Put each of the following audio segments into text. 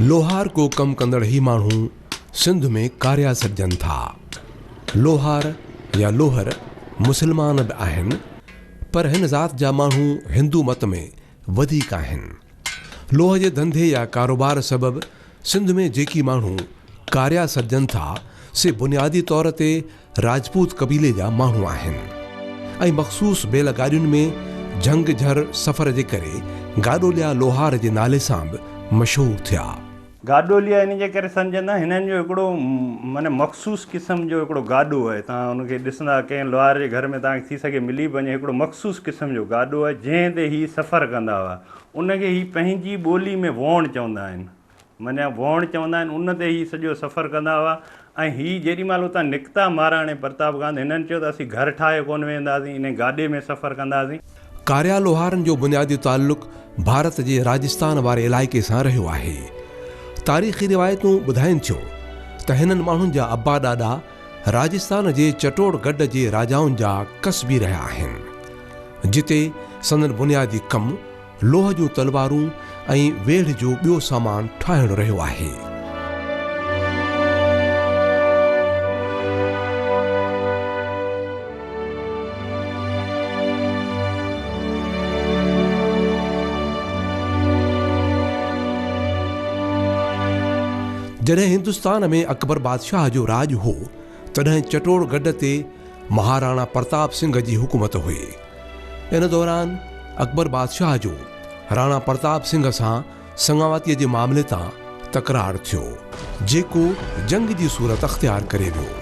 لوهار ڪو ڪم ڪندڙ هي ماڻهو سنڌ ۾ ڪاريا سڏجن ٿا. لوهار يا لوهر مسلمان به آهن پر هن ذات جا ماڻهو هندو مت ۾ وڌيڪ آهن. لوهه جي ڌنڌي يا ڪاروبار سبب سنڌ ۾ جيڪي ماڻهو ڪاريا سڏجن ٿا سي بنيادي طور تي راجپوت قبيلي جا ماڻهو آهن ۽ مخصوص بيل گاڏين ۾ جهنگ جهر سفر جي ڪري گاڏوليا لوهار جي نالي سان به مشهور ٿيا. گاڏوليا ان جي ڪري سمجهن ٿا هنن جو هڪڙو معنيٰ مخصوص قسم جو هڪڙو گاڏو آهي توهان ان کي ڏسندا ڪنهن لوهار جي گهر ۾ توهان کي ٿي سگهي ملي به وڃي هڪڙو مخصوص قسم جو گاڏو آهي جنهن تي هي سفر ڪندا هئا ان کي هي پنهنجي ٻولي ۾ ووڻ چوندا آهن. منيا ڀوڻ چوندا آهن ان تي هي سڄو سفر ڪندا هئا ۽ هي جيڏي مهل اتان نڪتا مهاراڻي پرتاب گاند هنن چيو ته اسين گهر ٺاهي ڪونه ويهنداسين انهي گاڏي ۾ سفر ڪنداسين. ڪاريا لوهارن جو بنيادي تعلق ڀارت جي راجستان واري علائقي سان رهيو آهي. تاريخي روايتون ٻڌائين ٿيو ته هنن ماڻهن جا ابا ڏاڏا راجستان جي چٽوڙ گڊ جي راجائن جا ڪسبي رهيا آهن جتي سندن بنيادي ڪم لوهه جون تلوارون ۽ ويڙهه جو ٻيو سامان ٺاهڻ رهيو آهي. جڏهن هندستان ۾ اڪبر بادشاهه جو راڄ هو، تڏهن چٽوڙ گڍ تي مهاراڻا پرتاب سنگهه جي حڪومت هئي. ان دوران اڪبر بادشاهه جو راڻا پرتاب سنگهه سان سڱاواتيء جي معاملي تان تڪرار ٿيو، جيڪو جنگ جي صورت اختيار ڪري ويو.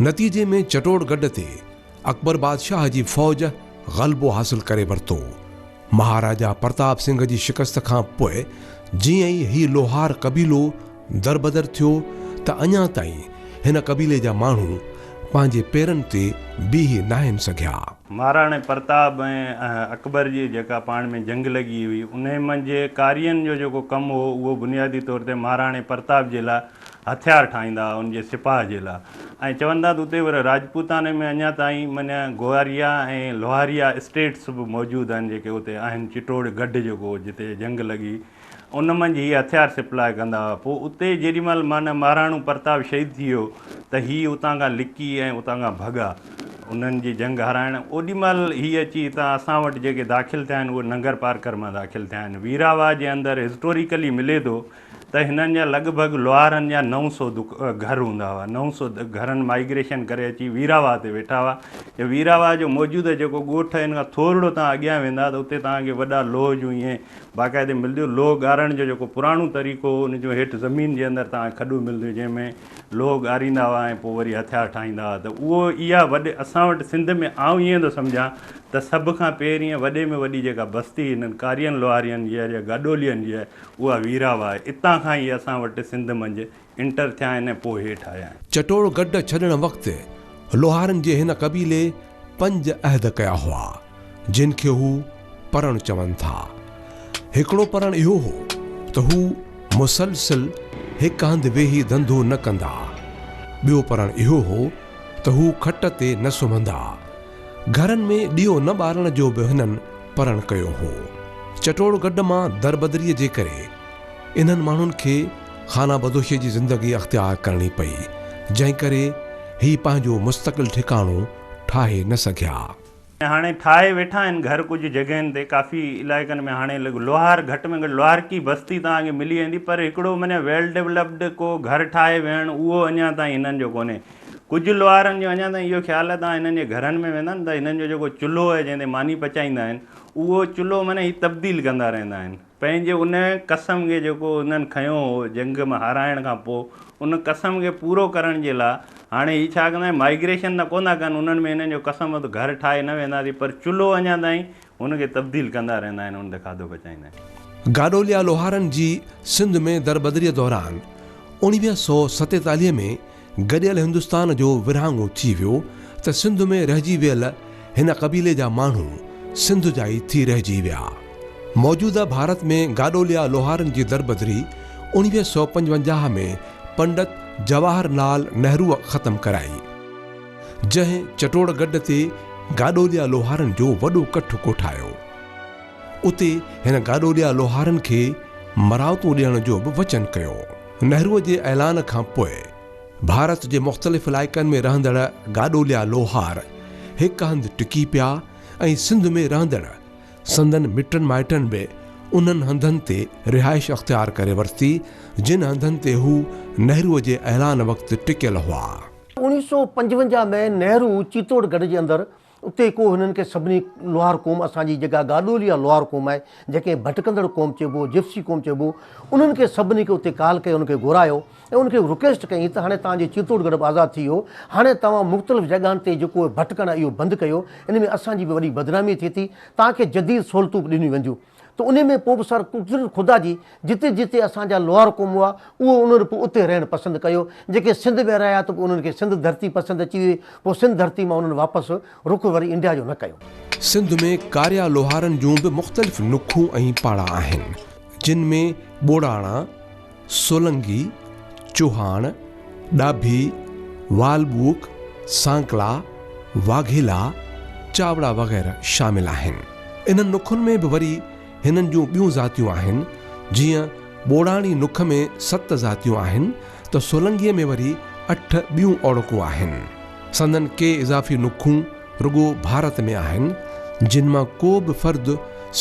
نتيجي ۾ چٽوڙ گڍ تي اڪبر بادشاهه جي فوج غلبو حاصل ڪري ورتو. مهاراجا پرتاب سنگهه جي شڪست کان پوء جيئن ئي هي لوهار قبيلو دربدر ٿيو ته اڃا تائين هن قبيلي جا ماڻهو پنهنجي پيرن تي بيهي ناهن سگهيا. مهاراڻي پرتاب ۽ اڪبر جي جيڪا پاڻ ۾ جنگ لڳي هئي، انهي منجهه ڪارين جو جيڪو ڪم هو، اهو بنيادي طور تي مهاراڻي پرتاب جي لاء هٿيار ٺاهيندا هئا ان جي سپاهه جي لا۽ چوندا ته اتي ور راجپوتاني ۾ اڃا تائين منيا گواريا ۽ لوهاريا اسٽيٽس به موجود آهن جيڪي اتي آهن چٽوڙ گڍ جيڪو جتي جنگ لڳي ان منجهه هي هٿيار سپلاء ڪندا هئا پوء اتي جيڏي مهل مانيا مهراڻو پرتاب شهيد ٿي ويو ته هي اتان کان لڪي ۽ اتان کان ڀڳا انهن جي جنگ هارائڻ اوڏي مهل هي اچي هتان اسان وٽ جيڪي داخل ٿيا آهن اهي ننگرپارڪر مان داخل ٿيا آهن ويراوا جي اندر هسٽوريڪلي ملي ٿو ته هنن جا لڳ ڀڳ لوهارن جا نو سو گهر هوندا هئا. نو سو گهرن مائيگريشن ڪري اچي ويراواهه تي ويٺا هئا. جي ويراواهه جو موجوده جيڪو ڳوٺ هي ان کان ٿورڙو توهان اڳيان ويندا ته اتي توهان کي وڏا لوهه جون ائين باقاعدي ملديون. لوهه ڳارڻ جو جيڪو پراڻو طريقو هو ان جون هيٺ زمين جي اندر توهان کي کڏون ملديون جنهن ۾ لوهه ڳاريندا هئا ۽ پوء وري هٿيار ٺاهيندا هئا ته اهو اها وڏي اسان وٽ سنڌ ۾ آئون ائين ٿو سمجهان ته سڀ کان پهرين ۽ وڏي ۾ وڏي جيڪا بستي هنن ڪارين لوهارين جي آهي جا گاڏولين جي آهي اها ويراو آهي. اتان کان ئي اسان وٽ سنڌ منجهه انٽر ٿيا آهن ۽ پوء هيٺ آيا آهن. چٽوڙ گڍ ڇڏڻ وقت لوهارن جي هن قبيلي پنج عهد ڪيا هئا، جن کي هو پرڻ چون ٿا. هڪڙو پرڻ اهو هو ته هو مسلسل هڪ هنڌ ويهي ڌنڌو نه ڪندا. ٻيو پرڻ اهو هو ته هو کٽ تي نه سمهندا. گهرن ۾ ڏيئو نه ٻارڻ جو به هنن پرڻ ڪيو هو. چٽوڙ گڊ مان دربدريء جي ڪري انهن ماڻهن کي خانه بدوشيء جي زندگي اختيار ڪرڻي پئي، جنهن ڪري هي پنهنجو مستقل ٺڪاڻو ٺاهي نه سگهيا. ۽ هاڻي ٺاهي ويٺا آهن گهر ڪجهه جڳهين تي، ڪافي علائقن ۾ هاڻي لوهار گهٽ ۾ گهٽ لوهارڪي بستي توهان کي ملي ويندي، پر هڪڙو معنيٰ ويل ڊولپڊ ڪو گهر ٺاهي ويهڻ اهو اڃا تائين هنن جو ڪونهي. ڪجهه لوهارن جو اڃا تائين اهو خيال آهي ته هنن جي گهرن ۾ ويندا ته هنن جو جيڪو چلهو آهي جنهن تي ماني پچائيندا آهن اهو چلهو معنيٰ هي تبديل ڪندا رهندا آهن پنهنجي ان قسم کي جيڪو هنن کنيو هو جنگ ۾ هارائڻ کان پوء ان قسم کي پورو ڪرڻ جي لاء هاڻي هي ڇا ڪندا آهن مائگريشن ته ڪونه ٿا ڪن انهن ۾ هنن جو قسم هو ته گهر ٺاهي نه وينداسين پر چلهو اڃا تائين ان کي تبديل ڪندا رهندا آهن ان تي کاڌو پچائيندا آهن. گاڏوليا لوهارن جي سنڌ ۾ دربدريء دوران اوڻويهه سؤ ستيتاليهه ۾ گڏيل هندستان جو ورهاڱو ٿي ويو ته سنڌ ۾ رهجي ويل هن قبيلي جا ماڻهو سنڌ جا ئي ٿي رهجي ويا. موجوده ڀارت ۾ گاڏوليا لوهارن جي دربدري اوڻويهه سؤ پنجونجاهه ۾ پنڊت جواهر لال نهروء ختم ڪرائي. جنهن چٽوڙ گڊ تي گاڏوليا لوهارن جو وڏو ڪٺ ڪوٺايو. اتي هن گاڏوليا لوهارن کي مراعتون ڏيڻ جو به وچن ڪيو. نهروء جي اعلان کان پوء ڀارت جي مختلف علائقن ۾ رهندڙ گاڏوليا لوهار هڪ هنڌ ٽڪي پيا ۽ سنڌ ۾ رهندڙ سندن مٽن مائٽن به انهن هنڌن تي رهائش اختيار ڪري ورتي، جن هنڌن تي هو نهروء جي اعلان وقت ٽڪيل هئا. اوڻيهه سؤ پنجونجاهه ۾ نهرو چيتوڙ گڙهه جي اندر اتي ڪو هنن کي سڀني لوهار قوم اسان جي جيڪا گاڏولي يا لوهار قوم آهي جنهنکي ڀٽڪندڙ قوم چئبو جپسي قوم چئبو انهن کي سڀني کي اتي ڪال ڪئي انهن کي گهرايو ۽ انهن کي رڪويسٽ ڪئين ته هاڻي توهان جو چيتوڙ گڙهه به آزاد ٿي ويو هاڻي توهان مختلف جاڳهن تي جيڪو ڀٽڪڻ آهي اهو بند ڪيو ان ۾ اسان جي به وڏي بدنامي ٿئي ٿي توهان کي جديد سهولتون به ڏنيون وينديون. ته انهي ۾ پوء به سر قدرت خدا جي جتي جتي اسان جا لوهار قوم هئا اهو انهن پوء اتي رهڻ پسند ڪيو جيڪي سنڌ ۾ رهيا ته پوء انهن کي سنڌ ڌرتي پسند اچي ويئي پوء سنڌ ڌرتي مان انهن واپس رخ وري انڊيا جو نه ڪيو. سنڌ ۾ ڪاريا لوهارن جون به مختلف نکون ۽ پاڙا آهن جن ۾ ٻوڙاڻا، سولنگي، چوهاڻ، ڏاڀي، والٻوڪ، سانڪلا، واگهيلا، چاوڙا وغيره شامل آهن. انهن نکن ۾ به وري هنن جون ٻيون ذاتيون آهن. جيئن ٻوڙاڻي نک ۾ ست ذاتيون آهن ته سولنگيء ۾ وري اٺ ٻيون اوڙڪون آهن. سندن ڪي اضافي نکون رڳو ڀارت ۾ آهن، جن مان ڪو به فرد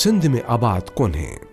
سنڌ ۾ آباد ڪونهي.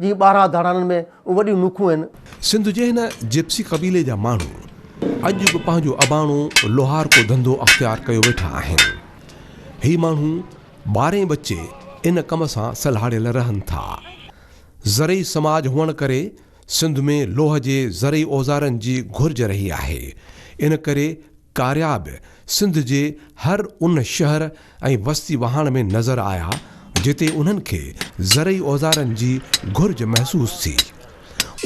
جي ٻارهن ڌاڙانن ۾ اون وڏيون نوکون هن. سنڌ جي هن جپسي قبيلي جا ماڻهو اڄ به پنهنجو اباڻو لوهارڪو ڌنڌو اختيار ڪيو ويٺا آهن. هي ماڻهو ٻارهين ٻچي ان ڪم سان سلهاڙيل رهن ٿا. زرعي سماج هئڻ ڪري سنڌ ۾ لوهه جي زرعي اوزارن جي گهرج رهي آهي. ان ڪري ڪاريا به سنڌ جي هر ان شهر، ۽ وستي وهاڻ ۾ نظر آيا جتي انهن کي زرعي اوزارن جي گهرج محسوس ٿي.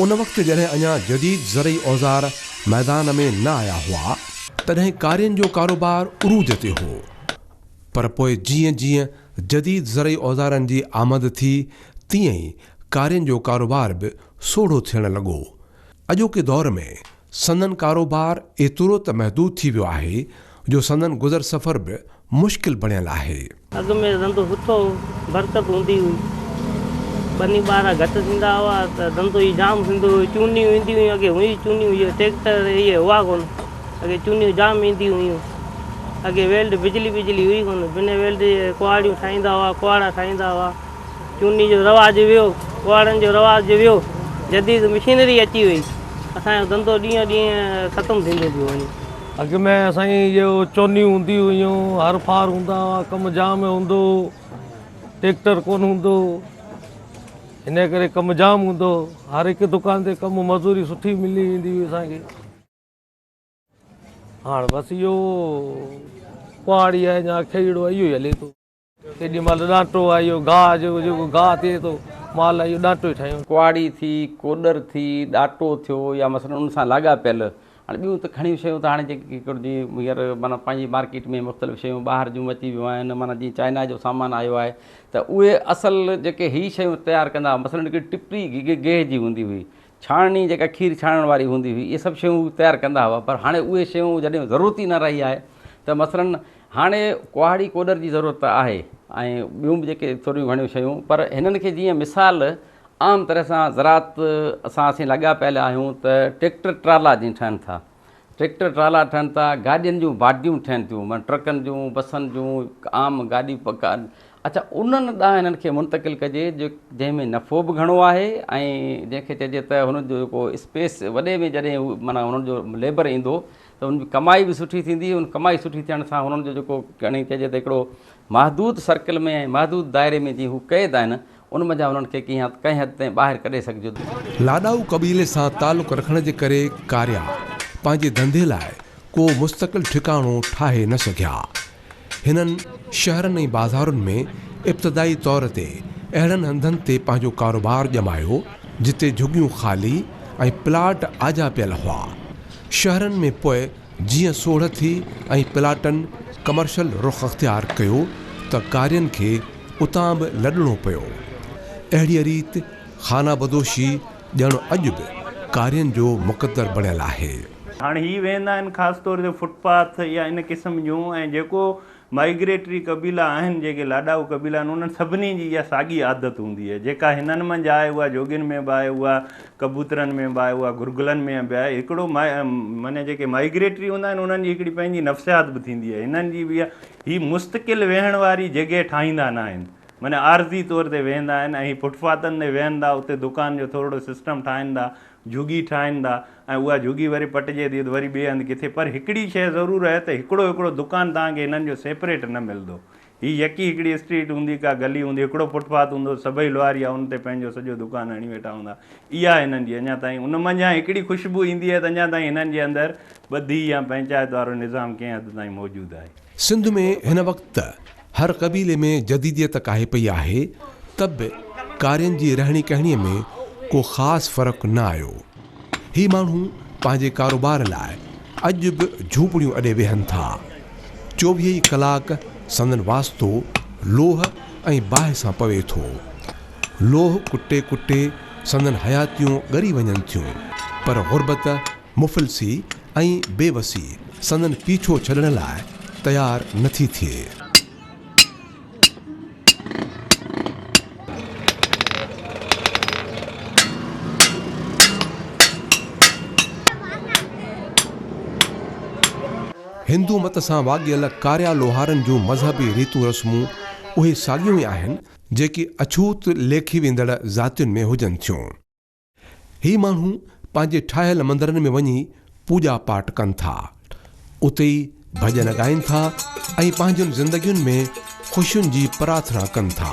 ان وقت جڏهن اڃا جديد زرعي اوزار ميدان ۾ نه آيا هئا، تڏهن ڪارين جو ڪاروبار عروج تي هو پر پوء جيئن جيئن جديد زرعي اوزارن جي آمد ٿي تيئن ئي ڪارين جو ڪاروبار به سوڙهو ٿيڻ لڳو. اڄوڪي دور ۾ سندن ڪاروبار ايترو ته محدود ٿي ويو آهي جو سندن گذر سفر به مشڪل بڻيل آهي. اڳ ۾ ڌنڌو سٺو هو، برڪت هوندي هئي. ٻني ٻارا گهٽ ٿيندا هئا ته ڌنڌو ئي جام ٿيندو هيو. چونيون اينديون هيون، اڳي هونئن ئي چونيون هيء ٽريڪٽر اهي هئا ڪونه. اڳي چونيون جام اينديون هيون. اڳي ويلڊ بجلي بجلي هئي ڪونه. بنهه ويلڊ جي ڪهاڙيون ٺاهيندا هئا، ڪهاڙا ٺاهيندا هئا. چوني جو رواج ويو، ڪهاڙن جو رواج ويو، جديد مشينري اچي وئي، اسان جو ڌنڌو ڏينهون ڏينهن ختم ٿيندو پيو وڃي. اڳ ۾ اسان جي جو چونيون هونديون هيون، هر ڦار هوندا هئا، ڪم جام هوندو هو، ٽيڪٽر ڪونه هوندو هو، انهيء ڪري ڪم جام هوندو هو، هر هڪ دڪان تي ڪم مزوري سٺي ملي ويندي هئي اسان کي، هاڻ بس اهو ڪهاڙي ۽ يا کهيڙو اهو ئي هلي ٿو. ڪيڏي مھل ڏانٽو آھي اھو گاھ جو جيڪو گاھ ٿئي ٿو مال اھو ڏانٽو ئي ٺاھيون. ڪهاڙي ٿي، ڪوڏر ٿي، ڏاٽو ٿيو يا مثلاً ان سان لاڳاپيل ھاڻي ٻيون ته گھڻيون شيون ته ھاڻي جيڪي ڪيڪر جي ھينئر معنيٰ پنهنجي مارڪيٽ ۾ مختلف شيون ٻاھر جون اچي ويون آھن معنيٰ جيئن چائنا جو سامان آيو آھي ته اھي اصل جيڪي ھي شيون تيار ڪندا ھئا مثلاً ھڪڙي ٽپڙي گيھ جي ھوندي ھئي ڇاڻڻي جيڪا کير ڇاڻڻ واري هوندي هئي اهي سڀ شيون هو تيار ڪندا هئا پر هاڻي اهي شيون جڏهن ضرورت ئي نه رهي آهي ته مثلاً هاڻي ڪهاڙي ڪوڏر جي ضرورت ته آهي ۽ ٻيون به جيڪي ٿوريون گهڻيون شيون پر هنن کي جيئن مثال عام طرح سان زراعت سان اسين لڳا پيل آهيون ته ٽيڪٽر ٽرالا جيئن ٺهن ٿا ٽريڪٽر ٽرالا ٺهن ٿا، گاڏين جون باڊيون ٺهن ٿيون، معنيٰ ٽرڪن جون، بسن جون، عام گاڏي اڇا انهن ڏانهن انهن کي منتقل ڪجي جنهن ۾ نفعو به گهڻو آهي ۽ جنهن کي چئجي ته هن جو جيڪو اسپيس وڏي ۾ جڏهن هو معنيٰ هنن جو ليبر ايندو ته هن جي ڪمائي به سٺي ٿيندي ان ڪمائي سٺي ٿيڻ سان هنن جو جيڪو چئجي ته هڪڙو محدود سرڪل ۾ ۽ محدود دائري ۾ جي هو قيد آهن ان منجهان انهن کي ڪنهن حد تائين ٻاهر ڪڍي سگهجي ٿو. لاڏائو قبيلي سان تعلق رکڻ جي ڪري ڪاريا پنهنجي ڌنڌي لاء ڪو مستقل ٺڪاڻو ٺاهي نه سگهيا. هنن شهرن ۽ بازارن ۾ ابتدائي طور تي اهڙن هنڌن تي پنهنجو ڪاروبار ڄمايو جتي جهڳيون خالي ۽ پلاٽ آجا پيل هئا. شهرن ۾ پوء جيئن سوڙهه ٿي ۽ پلاٽن ڪمرشل رخ اختيار ڪيو ته ڪارين کي اتان به لڏڻو پيو. اهڙيء ريت خانه بدوشي ڄڻ اڄ به ڪارين جو مقدر بڻيل آهي. هاڻ هي ويهندا آهن خاص طور تي فٽ پاٿ يا ان قسم جون ۽ جيڪو مائگريٽري قبيلا آهن، جيڪي لاڏائو قبيلا آهن، انهن سڀني جي اها ساڳي عادت هوندي آهي، جيڪا هنن منجهه آهي، اها جوڳين ۾ به آهي، اها ڪبوترن ۾ به آهي، اها گرگلن ۾ به آهي. هڪڙو معني جيڪي مائگريٽري هوندا آهن، انهن جي هڪڙي پنهنجي نفسيات به ٿيندي آهي، هنن جي به اها، هي مستقل ويهڻ واري جڳهه ٺاهيندا ناهن، معني عارضي طور تي ويهندا آهن ۽ فٽ پاٿن تي ويهندا، اتي دڪان جو ٿورڙو سسٽم ٺاهندا، جهڳي ٺاهندا، ۽ اها جهڳي وري پٽجي ٿي ته وري ٻئي هنڌ ڪٿي پر هڪڙي شيء ضرور اهي ته هڪڙو هڪڙو دڪان توهان کي هنن جو سيپريٽ نه ملندو. هي يڪي هڪڙي اسٽريٽ هوندي، ڪا گلي هوندي، هڪڙو فٽ پاٿ هوندو، سڀئي لوهاريا ان تي پنهنجو سڄو دڪان هڻي ويٺا هوندا. اها هنن جي اڃا تائين ان منجهان هڪڙي خوشبو ايندي اهي ته اڃا تائين هنن جي اندر ٻڌي يا پنچائت وارو نظام ڪنهن حد تائين موجود آهي. سنڌ ۾ هن وقت هر قبيلي ۾ جديديت ڪاهي پئي آهي ته به ڪارين جي رهڻي ڪهڻي ۾ ڪو خاص فرق نه آيو. هي ماڻهو پنهنجي ڪاروبار لاء اڄ به جهوپڙيون اڏي ويهن ٿا. چوويهه ئي ڪلاڪ سندن واسطو لوهه ۽ باهه سان پوي ٿو. لوهه ڪٽي ڪٽي سندن حياتيون ڳري وڃن ٿيون پر غربت، مفلسي ۽ بي وسي سندن پيڇو ڇڏڻ لاء تيار نه ٿي ٿئي. هندو مت سان واڳيل ڪاريا لوهارن جون مذهبي ريتون رسمون اهي ساڳيون ئي آهن، جيڪي اڇوت ليکي ويندڙ ذاتين ۾ هجن ٿيون. هي ماڻهو پنهنجي ٺاهيل مندرن ۾ وڃي پوڄا پاٽ ڪن ٿا، اتي ئي ڀڄن ڳائين ٿا ۽ پنهنجين زندگين ۾ خوشين جي پرارٿنا ڪن ٿا.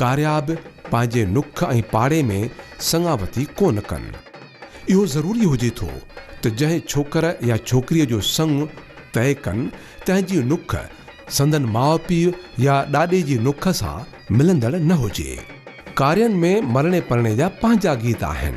ڪاريا به پنهنجي نک ۽ پاڙي ۾ سڱاوتي ڪو نه ڪن. اهو ضروري هجي ٿو ته جنهن ڇوڪر يا ڇوڪريء جو سڱ طئي ڪن، تنهن جي نک سندن ماء پيء يا ڏاڏي جي نک سان ملندڙ نه هجي. ڪارين ۾ مرڻي پرڻي جا پنهنجا گيت آهن.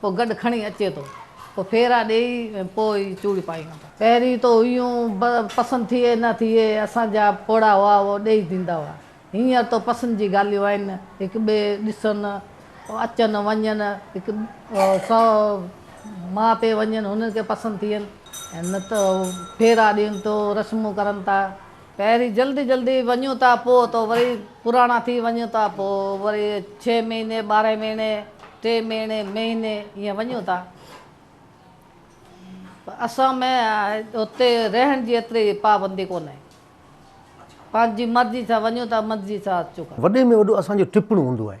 پوء گڏ کڻي اچي ٿو. پوء ڦيرا ڏيئي ۽ پوء ئي چوڙي پائيون ٿا. پهرين تو ايون پسند ٿئي نه ٿئي، اسان جا پوڙها هئا اهو ڏيئي ڏيندا هئا. هينئر تو پسند جي ڳالهيون آهن، هڪ ٻئي ڏسن، اچن وڃن، هڪ سو ماء پي وڃن، هنن کي پسند ٿين ۽ نه ته ڦيرا ڏين تو رسمون ڪرن ٿا. پهرين جلدي جلدي وڃون ٿا پوء تو وري پراڻا ٿي وڃون ٿا پوء وري ڇهه مهيني ٻارهن مهيني ٽي مهيني مهيني ايئن وڃون ٿا پر اسان ۾ اتي رهڻ جي ايتري پابندي ڪونهي پنهنجي مرضي سان وڃون ٿا مرضي سان اچون ٿا. وڏي ۾ وڏو اسان جو ٽپڻو هوندو آهي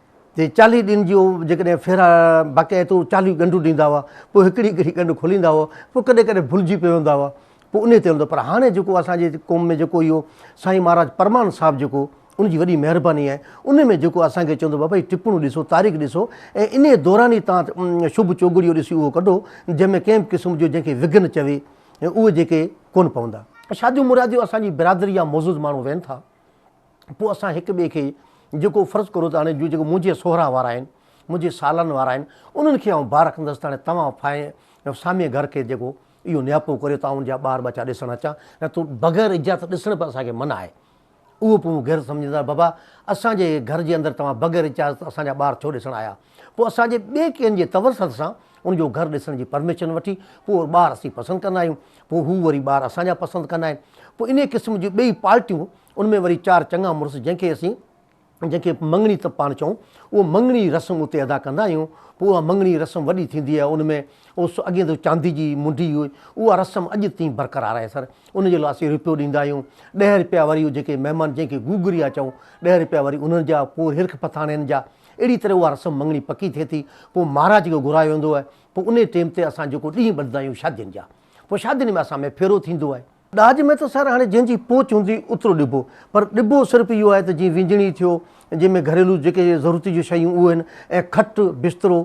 تي چاليهه ڏينهن جي هو جيڪڏهن ڦيرا باقاعده طور چاليهه ڳنڍون ڏيندا هئا، پوء هڪڙي هڪڙي ڳنڍ کوليندا هئا، پوء ڪڏهن ڪڏهن ڀلجي پوندا هئا، پوء انهي تي هلندو هو. پر هاڻي جيڪو اسان جي قوم ۾ جيڪو اهو سائين مهاراج پرمان صاحب جيڪو ان جي وڏي مهرباني آهي، ان ۾ جيڪو اسان کي چوندو بابا هي ٽپڻون ڏسو، تاريخ ڏسو ۽ انهي دوران ئي توهان شڀ چوگڙيو ڏسي اهو ڪڍو، جنهن ۾ ڪنهن به قسم جو جنهن کي وگهن چوي اهي جيڪي ڪونه پوندا. شاديون مراديون اسان جي برادري جا معزز ماڻهو ويهن ٿا. پوء اسان هڪ ٻئي کي جيڪو فرض ڪرو ته هاڻي جيڪو منهنجي سهرا وارا آهن، منهنجي سالن وارا آهن، انهن کي آئون بار رکندس ته هاڻي توهان ڦاهي ۽ سامي گهر کي جيڪو اهو نياپو ڪريو ته آئون ان جا ٻار ٻچا ڏسڻ اچان، نه ته بغير اجازت ڏسڻ به اسان کي منع آهي. اهو پوء مون غيرت سمجهندي چيو ته بابا اسان جي گهر جي اندر توهان بغير اجازت اسان جا ٻار ڇو ڏسڻ آيا؟ پوء اسان جي ٻئي ڪنهن جي تورثت سان ان جو گهر ڏسڻ جي پرميشن وٺي پوء ٻار اسين پسند ڪندا آهيون، پوء هو وري ٻار اسان جا پسند ڪندا آهن، پوء انهيء قسم جون ٻئي پارٽيون ان ۾ وري چار چڱا مڙس جنهن کي اسين جنهن کي مڱڻي ته پاڻ چئون اهو مڱڻي رسم اتي ادا ڪندا آهيون پوء اها مڱڻي رسم وڏي ٿيندي آهي ان ۾ اوس اڳين ته چاندي جي منڍي هئي اها رسم اڄ تائين برقرار آهي سر ان جي لاء اسين رپيو ڏيندا آهيون ڏهه رپيا وري جيڪي مهمان جنهن کي گوگريا چئون ڏهه رپيا وري انهن جا پوء وري هرک پٿاڻين جا اهڙي طرح اها رسم مڱڻي پڪي ٿئي ٿي پوء مهاراج کي گهرايو ويندو آهي پوء انهي ٽيم تي اسان جيڪو ڏينهن ٻڌندا آهيون شادين جا پوء شادين ۾ اسان ۾ ڦيرو ٿيندو آهي ڏاج ۾ ته سر هاڻي جنهن جي پهچ هوندي اوترو ڏبو پر ڏبو صرف اهو آهي ته جيئن وينجڻي ٿيو جنهن ۾ گهريلو جيڪي ضرورت جون شيون اهو آهن ۽ کٽ بسترو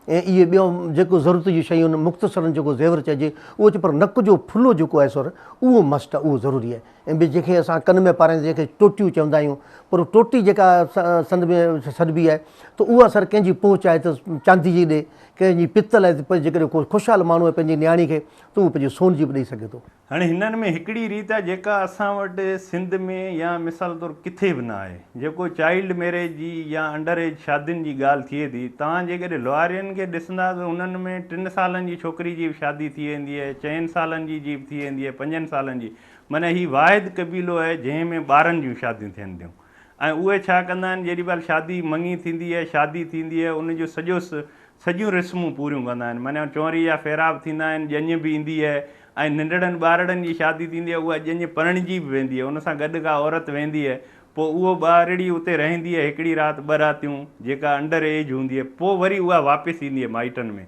۽ اهي ٻيو جيڪو ضرورت جون شيون آهن مختصرن جيڪو زيور چئجي اهو اچي پر نڪ جو ڦلو جيڪو آهي سر اهو مسٽ آهي اهو ضروري آهي ۽ ٻي جنهن کي اسان ڪن ۾ پارائيندي جنهن کي ٽوٽيون چوندا آهيون پر ٽوٽي جيڪا سنڌ ۾ سڏبي آهي ته اها سر ڪنهن جي پهچ آهي ته چاندي جي ڏي ڪنهن جي پتل آهي ته جيڪڏهن ڪو خوشحال ماڻهو آهي پنهنجي نياڻي کي تون مون پنهنجي سون جي به ڏئي سگهين ٿو. هاڻي هنن ۾ هڪڙي ريت آهي جيڪا اسان وٽ سنڌ ۾ يا مثال طور ڪٿي به نه آهي جيڪو چائلڊ ميريج جي يا انڊر ايج شادين جي ڳالهه ٿئي ٿي توهان جيڪڏهن لوهارين کي ڏسندا ته هنن ۾ ٽن سالن جي ڇوڪري جي به شادي ٿي ويندي آهي چئن سالن جي جي به ٿي ويندي آهي پنجن سالن جي معنيٰ هي واحد قبيلو آهي جنهن ۾ ٻارن جون شاديون ٿين ٿيون. ۽ اهي ڇا ڪندا آهن جيڏي مهل شادي مڱي ٿيندي آهي شادي ٿيندي آهي ان جو سڄو سڄيون رسمون پوريون ڪندا آهن معنيٰ چونري جا ڦيرا به ٿيندا آهن ڄڃ به ايندي آهي ۽ ننڍڙن ٻارڙن جي شادي ٿيندي آهي اها ڄڃ پرڻجي به ويندي آهي ان سان گڏ ڪا عورت ويندي آهي پوء اهو ٻارڙي اتي رهندي آهي هڪڙي رات ٻه راتيون جيڪا انڊر ايج هوندي آهي پوء وري اها واپس ايندي آهي مائٽن ۾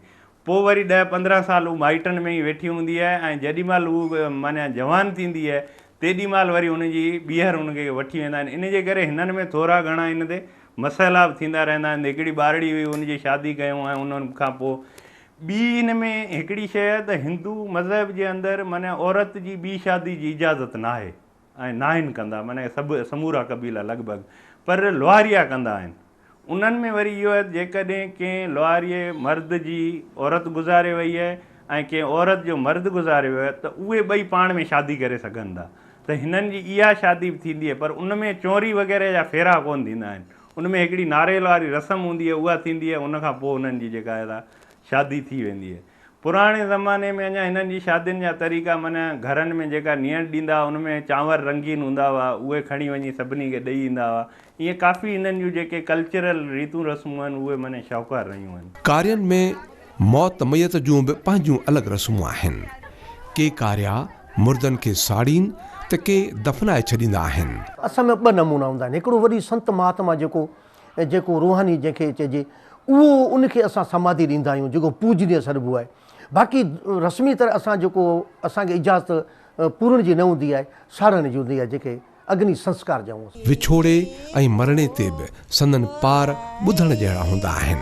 پوء وري ڏهه پندرهن سال هو مائٽن ۾ ئي ويٺي هوندي آهي ۽ جيڏي مهل هو معنيٰ جوان ٿيندي آهي تيڏي مهل وري هن جي ٻيهر هن کي وٺي ويندا آهن ان جي ڪري هنن ۾ ٿورا گهڻا ان تي مسئلا به ٿيندا رهندا آهن هڪڙي ٻارڙي هئي ان جي شادي ڪيون ۽ ان کان پوء ٻي ان ۾ هڪڙي شيء ته هندو مذهب جي اندر معنيٰ عورت جي ٻي شادي جي اجازت ناهي. ۽ ناهن ڪندا معنيٰ سڀ سمورا قبيلا لڳ ڀڳ پر لوهاريا ڪندا آهن انهن ۾ وري اهو آهي جيڪڏهن ڪنهن لوهاريي مرد جي عورت گذاري وئي آهي ۽ ڪنهن عورت جو مرد گذاري ويو آهي ته اهي ٻئي پاڻ ۾ شادي ڪري سگهن ٿا ته هنن جي اها شادي به ٿيندي آهي پر ان ۾ چونري وغيره جا ڦيرا ڪونه ٿيندا آهن ان ۾ هڪڙي ناريل واري رسم هوندي آهي اها ٿيندي آهي ان کان پوء انهن جي جيڪا آهي سا شادي ٿي ويندي آهي پراڻي زماني ۾ اڃا هنن جي شادين جا طريقا من گهرن ۾ جيڪا نيڻ ڏيندا هئا ان ۾ چانور رنگين هوندا هئا اهي کڻي وڃي سڀني کي ڏئي ايندا هئا ائين ڪافي هنن جون جيڪي ڪلچرل ريتون رسمون آهن اهي من شاهوڪار رهيون آهن. ڪارين ۾ موت ميت جون به پنهنجون الڳ رسمون آهن ڪي ڪاريا مردن کي ساڙين ته ڪي دفنائي ڇڏيندا آهن. اسان ۾ ٻه نمونا هوندا آهن هڪڙو وڏي سنت مهاتما جيڪو. ۽ جيڪو روحاني جنهن کي چئجي اهو ان کي اسان سماڌي ڏيندا آهيون جيڪو پوڄنيء سڏبو آهي باقي رسمي طرح اسان جيڪو اسان کي اجازت پورڻ جي نه هوندي آهي ساڙڻ جي هوندي آهي جنهن کي اگني سنسڪار چئون ٿا. وڇوڙي ۽ مرڻي تي به سندن پار ٻڌڻ جهڙا هوندا آهن.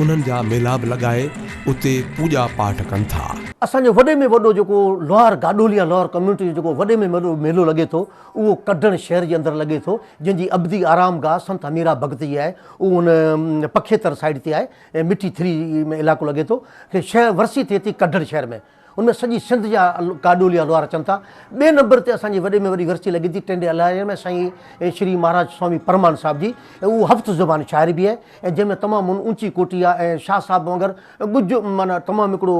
انهن جا ميلا به لڳائي اتي پوڄا پاٺ ڪن ٿا. اسان جو وڏي ۾ وڏو جيڪو لوهار گاڏهولي يا لوهار ڪميونٽي جو جيڪو وڏي ۾ وڏو ميلو لڳي ٿو اهو ڪڍڻ شهر جي اندر لڳي ٿو جنهن جي ابدي آرام گاهه سنت هميرا ڀڳت جي آهي اهو ان پکيتر سائيڊ تي آهي ۽ مٺي ٿري ۾ علائقو لڳي ٿو کي شهر ورسي ٿئي ٿي ڪڍڻ شهر ۾ ان ۾ سڄي سنڌ جا ڪاڏولي الوار اچن ٿا. ٻئي نمبر تي اسان جي وڏي ۾ وڏي ورسي لڳي ٿي ٽنڊي الاهيء ۾ سائين شري مهاراج سوامي پرمان صاحب جي ۽ اهو هفت زبان شاعري به آهي جنهن ۾ تمام ان اوچي ڪوٽي آهي ۽ شاهه صاحب وانگر ڳجهه معنيٰ تمام هڪڙو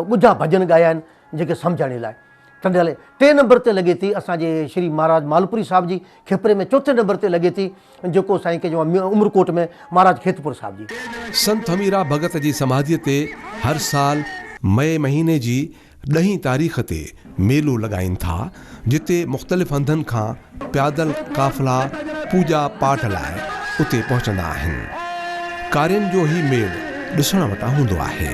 ڳجها ڀڄن ڳايا آهن جيڪي سمجهاڻي لاء ٽنڊي الاهي. ٽئين نمبر تي لڳي ٿي اسان جي شري مهاراج مالپوري صاحب جي کيپري ۾ چوٿين نمبر تي لڳي ٿي، جيڪو سائين ڪي جو عمرڪوٽ ۾ مھاراج کيتپور صاحب جي. سنت ھميرا ڀڳت جي سماڌيء تي ھر سال مئي مھيني جي ڏھين تاريخ تي ميلو لڳائين ٿا، جتي مختلف ھنڌن کان پيادل قافلا پوڄا پاٺ لاء اتي پهچندا آهن. ڪارين جو ھي ميڙ ڏسڻ وٽان ھوندو آهي.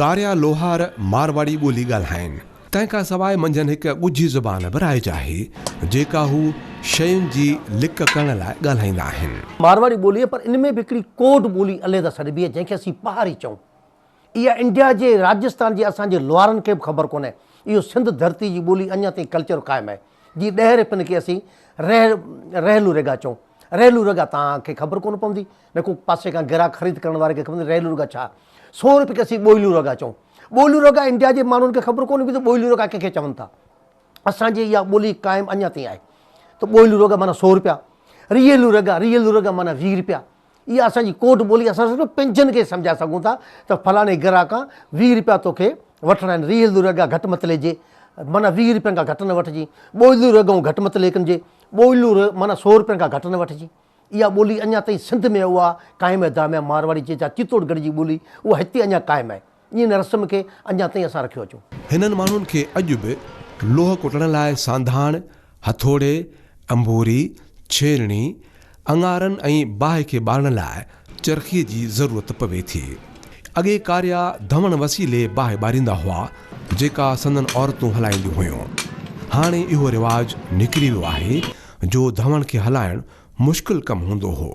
ڪاريا لوهار مارواڙي ٻولي ڳالهائين. تنهن کان سواء منجهن هڪ ڳجهي زبان به رائج آهي، جيڪا هو شين جي لڪ ڪرڻ لاء ڳالهائيندا آهن. مارواڙي ٻولي پر ان ۾ به هڪڙي ڪوڊ ٻولي عليحده سڏبي آهي، جنهن کي اسين پهاري چئون. اها انڊيا جي راجستان جي اسان جي لوهارن کي به خبر ڪونهي اهو سنڌ ڌرتي جي ٻولي اڃا تائين ڪلچر قائم آهي جي ڏهر پن کي اسين رح رحلو ريگا چئون رحلو ريگا تان کي خبر ڪونه پوندي نه ڪو پاسي کان گراهڪ خريد ڪرڻ واري کي خبر رحلو ريگا ڇا سو روپي کي اسين ٻوئلو ريگا چئون ٻوئلو ريگا انڊيا جي ماڻهن کي خبر ڪونه پوندي ٻوئلو ريگا ڪنهن کي چون ٿا اسان جي اها ٻولي قائم اڃا تائين آهي ته ٻوئلو ريگا معنيٰ سو روپيا ريلو ريگا ريلو ريگا معنيٰ ويهه روپيا اها اسان جي ڪوڊ ٻولي اسان صرف پنهنجن کي سمجهائي سگهون ٿا ته فلاڻي گراهه کان ويهه رپيا توکي وٺڻا آهن ريل دوري اڳيان گهٽ مت ليجي معنيٰ ويهه رپين کان گهٽ نه وٺجي ٻوليون رڳون گهٽ مت ليکنجي ٻوليون ر معنيٰ سو رپين کان گهٽ نه وٺجي اها ٻولي اڃا تائين سنڌ ۾ اها قائم آهي داميان مارواڙي جي جا چتوڙ گڙهه جي ٻولي اها هتي اڃا قائم آهي ان رسم کي اڃا تائين اسان رکيو اچون. هنن ماڻهن کي اڄ به لوهه ڪٽڻ لاء سانڌاڻ، هٿوڙي، انبوري، ڇيلڻي، اڱارن ۽ باهه کي ٻارڻ لاء چرخيء جي ضرورت پوي ٿي. اڳي ڪاريا ڌوڻ وسيلي باهه ٻاريندا هئا، جيڪا سندن عورتون هلائينديون هيون. هاڻي اهو رواج نڪري ويو آهي جو ڌوڻ کي هلائڻ مشڪل ڪم هوندو هو.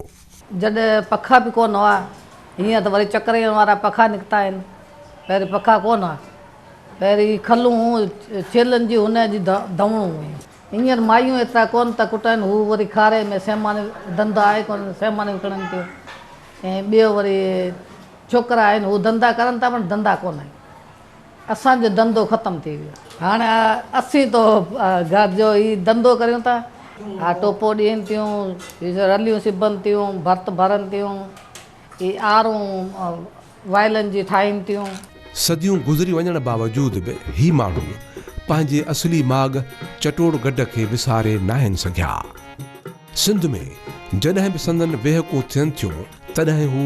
جڏهن پکا به ڪونه هئا. هينئر ته وري چڪرين وارا پکا نڪتا آهن. پهرين پکا ڪونه هئا. پهرين هي کلون هون، ڇيلن جي هن جي ڌونئون هيون. هينئر مايون ايترا ڪونه ٿا ڪٽائن. هو وري کاري ۾ سيماڻي ڌنڌو آهي ڪونه، سيماڻي وڪڻن ٿيون ۽ ٻيو وري ڇوڪرا آهن، هو ڌنڌا ڪرن ٿا پر ڌنڌا ڪونه آهن. اسان جو ڌنڌو ختم ٿي ويو هاڻ اسين تو گهر جو ئي ڌنڌو ڪريون ٿا اها ٽوپو ڏين ٿيون رليون سبن ٿيون ڀرت ڀرن ٿيون اي آرون وائلن جي ٺاهين ٿيون. صديون گذري وڃڻ باوجود به هي ماڻهو پنهنجي اصلي ماڳ چٽوڙ گڍ کي وساري ناهن سگهيا. سنڌ ۾ جڏهن به سندن ويهڪون ٿين ٿيون تڏهن هو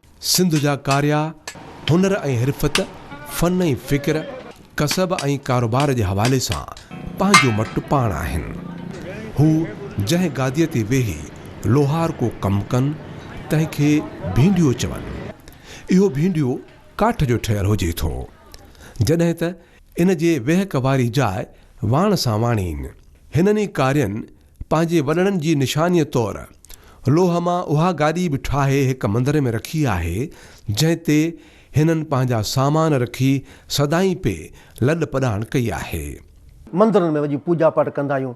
سنڌ جا ڪاريا، هنر ۽ حرفت، فن ۽ فڪر، ڪسب ۽ ڪاروبار جي حوالي سان پنهنجو مٽ پاڻ آهن. هو جنهن گاديء تي ويهي لوهار ڪو ڪم ڪن، تنهن کي ڀينڊيو چون. اهو ڀينڊيو ڪاٺ جو ٺهيل هجي ٿو، جڏهن ته ان جي ويهڪ واري جاء واڻ سان واڻين. هنن ئي ڪارين پنهنجي وڏڙن جي نشانيء طور لوهه مان اها گاڏي به ٺاهي هڪ مندر ۾ رکي آهي، جنهن تي هنن پنهنجا سامان رکي سدائين پئي لڏ پڏاڻ ڪئي آهي. مندرن ۾ وڃي پوڄا پاٽ ڪندا آهيون،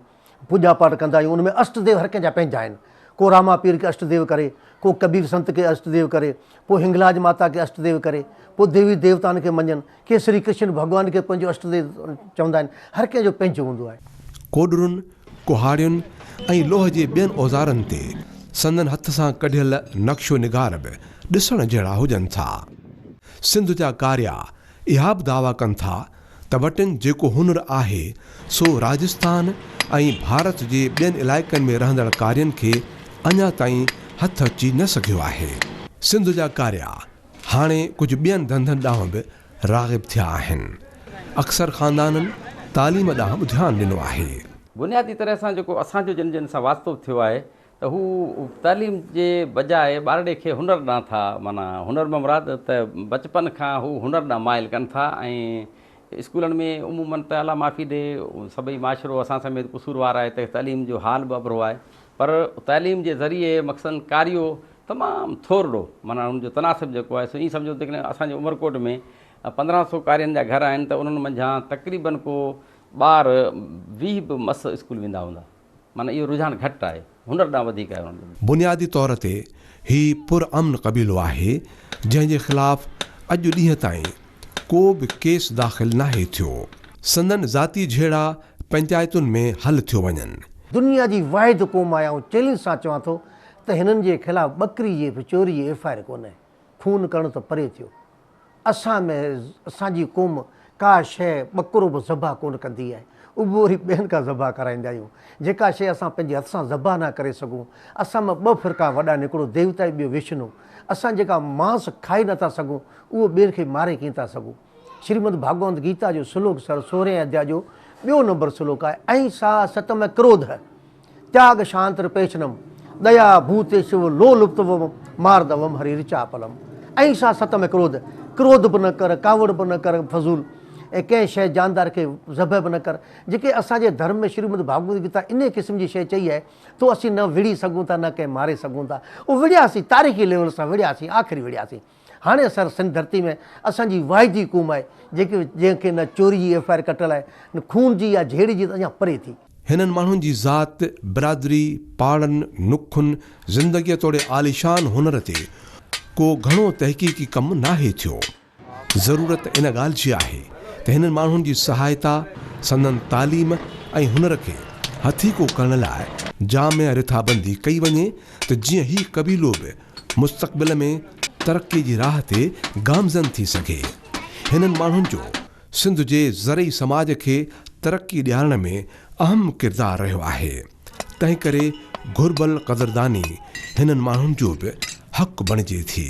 پوڄا پاٽ ڪندا آهيون، ان ۾ اشٽ ديو هر ڪنهن جا پنهنجا آهن، ڪو راما پير کي اشٽ ديو ڪري، ڪو ڪبير سنت کي اشٽ ديو ڪري، پوء هنگلاج ماتا کي اشٽ ديو ڪري، پوء ديوي ديوتائن کي مڃن، ڪي شري ڪرشن ڀڳوان کي پنهنجو اشٽ ديو چوندا آهن. هر ڪنهن جو پنهنجو هوندو آهي. ڪوڏرن، ڪهاڙين ۽ لوهه جي ٻين اوزارن تي سندن هٿ سان ڪڍيل نقش و نگار به ڏسڻ جهڙا هجن ٿا. سنڌ جا ڪاريا اها به دعويٰ ڪن ٿا ته وٽن جيڪو هنر آهي سو راجستان ۽ ڀارت جي ٻين علائقن ۾ رهندڙ ڪارين کي اڃا تائين هٿ اچي نه سگهيو آهي. سنڌ جا ڪاريا هاڻي ڪجهه ٻين ڌنڌن ڏانهن به راغب ٿيا آهن. اڪثر خاندانن تعليم ڏانهن به ڌيان ڏنو آهي. بنيادي طرح سان جيڪو اسان جو جن جن سان واسطو ٿيو آهي ته هو تعليم جي بجاء ٻارڙي کي هنر ڏانهن ٿا معنيٰ هنر مان مراد ته بچپن کان هو هنر ڏانهن مائل ڪن ٿا ۽ اسڪولن ۾ عموماً ته الله معافي ڏي سڀئي معاشرو اسان سميت قصوروار آهي ته تعليم جو حال به اڀرو آهي پر تعليم جي ذريعي مخصوصاً ڪاريو تمام ٿورڙو معنيٰ ان جو تناسب جيڪو آهي سو ائين سمجهو ته جيڪڏهن اسان جي عمرڪوٽ ۾ پندرهن سؤ قارين جا گهر آهن ته انهن منجهان تقريبن ڪو ٻار ويهه به مس اسڪول ويندا هوندا معنيٰ اهو رجحان گهٽ آهي هنر ڏانهن وڌيڪ آهي انهن جو. بنيادي طور تي هي پر امن قبيلو آهي جنهن جي خلاف اڄ ڏينهن تائين ڪو به ڪيس داخل ناهي ٿيو. سندن ذاتي جهيڙا پنچائتن ۾ حل ٿيو وڃن. دنيا جي واحد قوم آهي آئون چئلينج سان چوان ٿو ته هنن جي خلاف ٻڪري جي به چوري جي ايف آء آر ڪونهي، خون ڪرڻ ته پري ٿيو. اسان ۾ اسان جي قوم ڪا شيء ٻڪرو به ذبح ڪونه ڪندي آهي، اهو وري ٻين کان ذبح ڪرائيندا آهيون. جيڪا شيء اسان پنهنجي هٿ سان ذبح نه ڪري سگهون، اسان مان ٻه فرقا وڏا آهن هڪڙو ديوتا ۽ ٻيو وشنو. اسان جيڪا مانس کائي نه ٿا سگهون، اهو ٻين کي ماري ڪين ٿا سگهون. شريمد ڀاڳوانت گيتا جو سلوڪ سر سورهين اڌيا جو ٻيو نمبر سلوڪ آهي، اهنسا ستم ڪروڌ. تياڳ شانت رپيشنم، ديا ڀوتي شو لو لپتوم ماردوم هري رچاپلم. اهنسا ستم ۽ ڪروڌ، ڪروڌ به نه ڪر، ڪاوڙ به نه ڪر، فضول ۽ ڪنهن شيء جاندار کي ذبح به نه ڪر. جيڪي اسان جي ڌرم ۾ شريمد ڀاڳوت گيتا انهيء قسم جي شيء چئي آهي، تو اسين نه وڙهي سگهون ٿا نه ڪنهن ماري سگهون ٿا. او وڙهياسين، تاريخي ليول سان وڙهياسين، آخري وڙهياسين. هاڻي سر سنڌ ڌرتي ۾ اسان جي واحد ئي قوم آهي جيڪي جنهن کي نه چوري جي ايف آء آر ڪٽل آهي نه خون جي يا جهيڙي جي ته اڃا پري ٿي. هنن ماڻهن جي ذات، برادري، پاڙن، نکن، زندگيء توڙي عاليشان هنر تي ڪو گهڻو تحقيقي ڪم ناهي ٿيو. ضرورت ان ڳالهه جي آهي ته هنن ماڻهن جي سهائتا، سندن تعليم ۽ هنر کي هٿيڪو ڪرڻ لاء جامع رٿابندي ڪئي وڃي ته جيئن هي قبيلو به مستقبل ۾ ترقي جي راهه تي گامزن ٿي سگهي. هنن ماڻهن جو سنڌ جي زرعي سماج کي ترقي ڏيارڻ ۾ اهم ڪردار رهيو آهي، تنهنڪري گهربل قدرداني هنن ماڻهن جو به حق بڻجي ٿي.